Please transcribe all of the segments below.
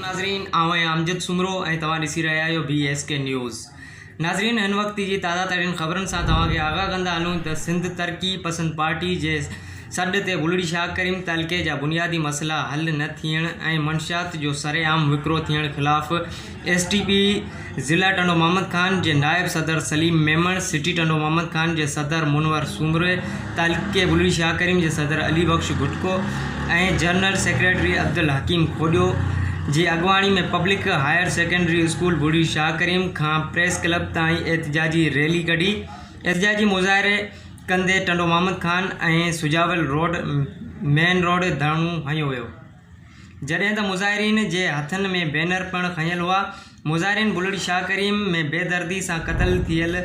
ناظرين آئون آهيان امجد سومرو ۽ توهان ڏسي رهيا آهيو بي ايس ڪي نيوز ناظرين هن وقت جي تازه ترين خبرن سان توهان کي آگاهه ڪندا هلون ته سنڌ ترقي پسند پارٽي جي سڏ تي ٻلڙي شاهه ڪريم تعلقي جا بنيادي مسئلا حل نه ٿيڻ ۽ منشيات جو سرعام وڪرو ٿيڻ خلاف ايس ٽي پي ضلع ٽنڊو محمد خان جي نائب صدر سليم ميمڻ، سٽي ٽنڊو محمد خان جي صدر منور سومري، تعلقي بلڙي شاهه ڪريم جي صدر علي بخش گهٽڪو ۽ جنرل سيڪريٽري عبدالحڪيم کوڏيو جي اڳواڻي ۾ public higher secondary school Bulri Shah Karim کان پريس ڪلب تائين احتجاجي ريلي ڪڍي احتجاجي مظاهري ڪندي Tando Muhammad Khan ۽ Sujawal road main road ڌرڻو هنيو ويو جڏهن ته مظاهرين جي هٿن ۾ بينر پڻ کنيل هئا. مظاهرين بلڙ شاهه ڪريم ۾ بي دردي سان قتل ٿيل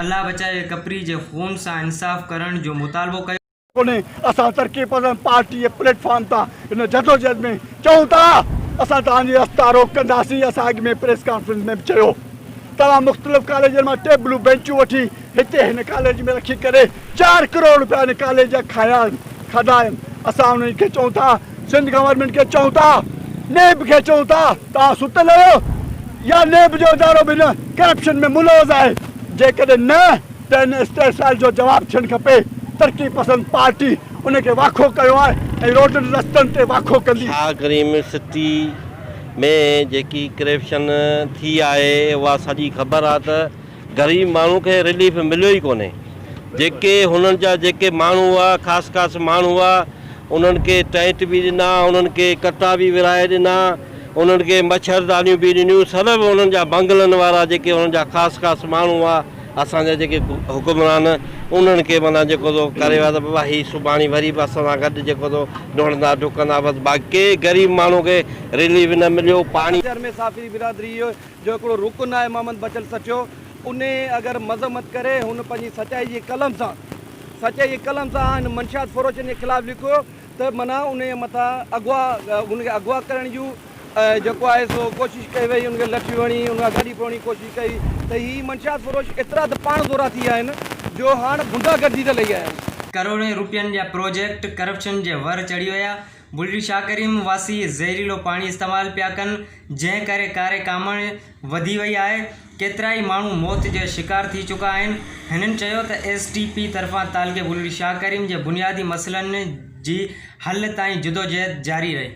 الله بچايو ڪپري جي خون سان انصاف ڪرڻ جو مطالبو ڪيو. ڪونهي اسان ترقي پسند پارٽي جي پليٽ فارم تان هن جدوجهد ۾ چئون ٿا اسان توهان جي رستا روڪ ڪنداسين اسان اڳ ۾ پريس ڪانفرنس ۾ به چيو توهان مختلف ڪاليجن مان ٽيبلون بينچون وٺي هتي هن ڪاليج ۾ رکي ڪري چار ڪروڙ روپيا ان ڪاليج جا کايا آهن کاڌا آهن اسان انهن کي چئون ٿا سنڌ گورنمينٽ کي چئون ٿا نيب کي چئون ٿا توهان ستل آهيو يا نيب جو ادارو به هن ڪرپشن ۾ ملوث آهي جيڪڏهن نه ته ان استحصال جو جواب ٿيڻ کپي ترقي پسند پارٽي ان کي واکو ڪيو آهي ۽ روڊن رستن تي واکو ڪندي. شاهه ڪريم سٽي ۾ جيڪي ڪريپشن ٿي آهي اها سڄي خبر آهي ته غريب ماڻهو کي رليف مليو ئي ڪونهي جيڪي هنن جا جيڪي ماڻهو هئا خاص خاص ماڻهو هئا انهن کي ٽينٽ به ڏنا انهن کي ڪتا به ورهائي ڏنا انهن کي مڇردانيون به ڏنيون سر به انهن جا بنگلن وارا جيڪي انهن جا خاص خاص ماڻهو هئا اسان جا جيڪي حڪمران انهن کي معنيٰ جيڪو تو ڪري ويا ته بابا هي سڀاڻي وري به اسان سان گڏ جيڪو تو ڊوڙندا ڊڪندا بس باقي ڪنهن غريب ماڻهو کي رليف نه مليو پاڻي ڄر ۾ ساڦري برادري جو هڪڙو رڪن آهي محمد بچل سچو انهي اگر مذمت ڪري هن پنهنجي سچائي جي قلم سان سچائي جي قلم سان هن منشيات فروشن جي خلاف لکيو ته معنيٰ انهي مٿان اغوا ان کي اغوا ڪرڻ جي جيڪو آهي سو ڪوشش ڪئي وئي ان کي لٺي هڻي ان کان گاڏي ڦروڙڻ جي ڪوشش ڪئي ته هي منشيات فروش ايترا ته پاڻ ذورا ٿي ويا آهن جو هاڻ غنڊا گردي ته لهي آيا آهن. ڪروڙين روپين جا پروجيڪٽ ڪرپشن جي ور چڙهي ويا بلڙي شاهه ڪريم واسي زهريلو پاڻي استعمال پيا ڪن. جنهن ڪري ڪاري ڪامڻ وڌي وئي آهي، ڪيترائي ماڻهو موت جا شڪار ٿي چڪا آهن، هنن چيو ته ايس ٽي پي طرفان تعلقي بلڙي شاهه ڪريم جي بنيادي مسئلن جي حل تائين جدوجهد جاري رهي.